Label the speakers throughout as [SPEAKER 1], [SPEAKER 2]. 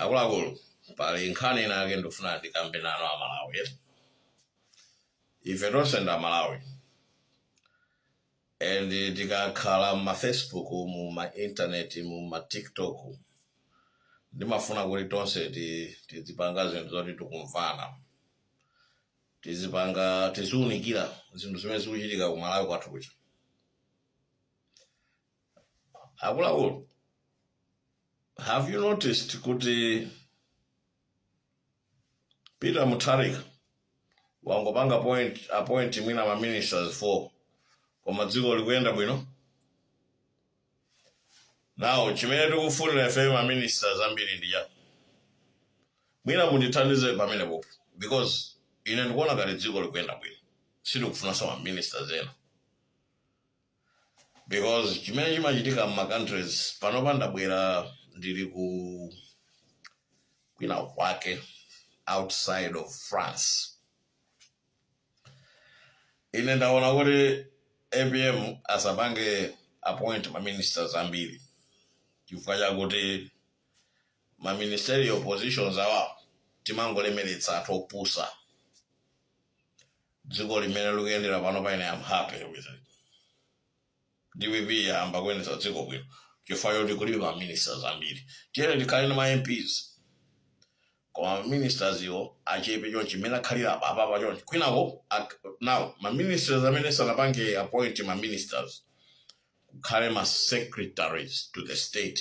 [SPEAKER 1] akuluakulu pali nkhani inayake ndifuna ndikambe nanu amalawi eh? ife tonse ndi amalawi and tikakhala mumafacebook mumaintaneti mumatiktok ndimafuna kuti tonse ti- tizipanga zinthu zoti tikumvana tizipanga tiziunikira zinthu zimene zikuchitika kumalawi kwathu kuja akuluakulu have you noticed kuti peter mutharika wangopanga appoint mwina ma ministers four koma dziko likuyenda bwino now chimene tikufunira ife ma ministers ambiri ndi chani mwina mundithandize pamenepo because ine ndikuona ngati dziko likuyenda bwino sitikufunanso ma ministers ena because chimene chimachitika mma countries panopa ndabwera ndili ku kwina kwake outside of france ine ndaona kuti apm asapange appoint maministers ambiri chifukwa chakuti maministerial positions awa timangolemeretsa anthu opusa dziko mmene likuyendera panopa ine I'm happy with it dpp yayamba kuyendetsa dziko bwino chifukwa choti kulibe ma ministers ambiri tiyeni tikhale ndi ma mps koma ma ministers iwo achepe chonchi mmene akhalira apa apapa chonchi kwinako ak- now ma ministers amene sanapange appoint ma ministers kukhale ma secretaries to the state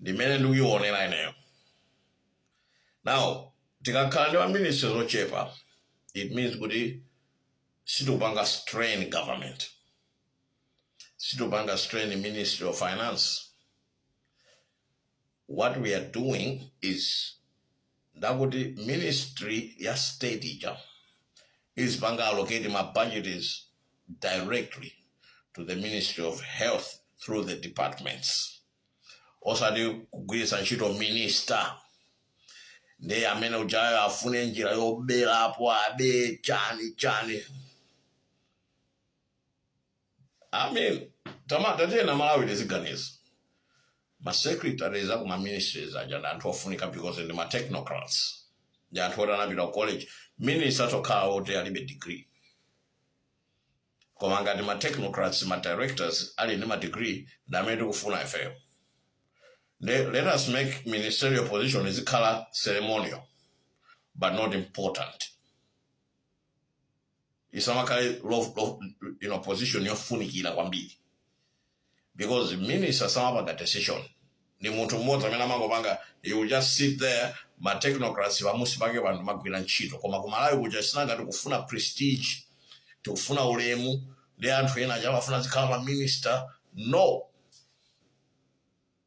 [SPEAKER 1] ndi mmene ndikuionera ineyo now tikakhala ndi maministries zochepa it means kuti sitikupanga strain government sitikupanga strain ministry of finance what we are doing is that kuti ministry ya state ija izipanga allocate ma budgets directly to the ministry of health through the departments osati kugwiritsa ntchito minister ndiye amene ujayo afune njira yoberapo abe chani chani I mean tatiyeni amalawi tiziganiza ma secretaries aku ma ministries aja ndi anthu ofunika because ndi ma technocrats ndi anthu oti anapita ku college minister atha kukhala oti alibe degree koma ngati ma technocrats ma directors ali ndi ma degree ndi amene tikufuna ifeyo Le- let us make ministerial position izikhala ceremonial but not important isamakhale lo- lo- you know, position yofunikira kwambiri because minister samapanga decision ndi munthu mmodzi amene amangopanga he will just sit there ma technocrats pansi pake anthu magwira ntchito koma kumalawi kuja sinanga tikufuna prestige tikufuna ulemu ndi anthu ena aja amafuna azikhala ma minister no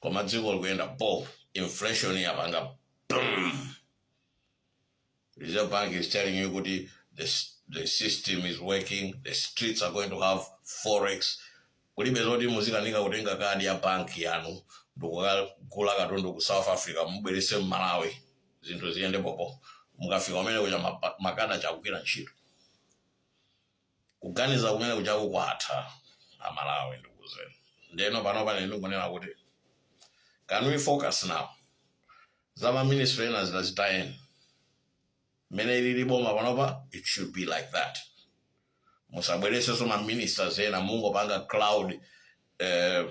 [SPEAKER 1] koma dziko likuyenda bo inflation yapanga boom reserve bank is telling you kuti the, s- the system is working the streets are going to have forex kulibe zoti muzikanika kutenga kadi ya banki yanu ndikukagula katundu ku south africa mubwerese m'Malawi zinthu ziyende bobo mukafika kumene kuja mapa- makadi aja akugwira ntchito Kuganiza kumene kujaku kwatha a Malawi ndikuuzeni. Ndeno panopa ine ndikungonena kuti can we focus now za ma minister ena zina zitayeni. Mene ilili boma panopa it should be like that. Musabweresenso ma ministers ena mungopanga crowd eh,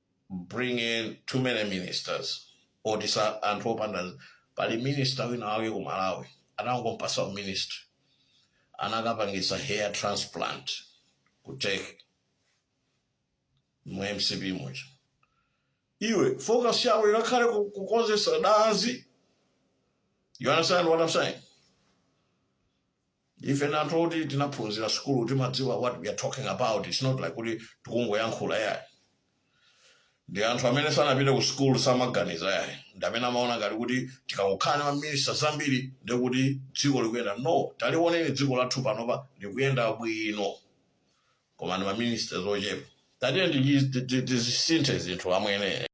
[SPEAKER 1] bring in too many ministers oti ndi anthu opanda nzeru pali minister wina wake ku malawi anangompasa uministry anakapangisa hair transplant ku turkey mu mcp muja iwe focus yawo inakhale ku- kukonzesa danzi you understand what i'm saying ife ndi anthu oti tinaphunzira sukulu timadziwa what we are talking about its not like kuti tikungoyankhula yayi ndi anthu amene sanapite ku sukulu samaganiza yayi ndi amene amaona ngati kuti tikangokhala ndi maminista zambiri ndi kuti dziko likuyenda no taliwoneni dziko lathu panopa likuyenda bwino koma ndi maministers ochepa tatiye tizisintha zinthu amwene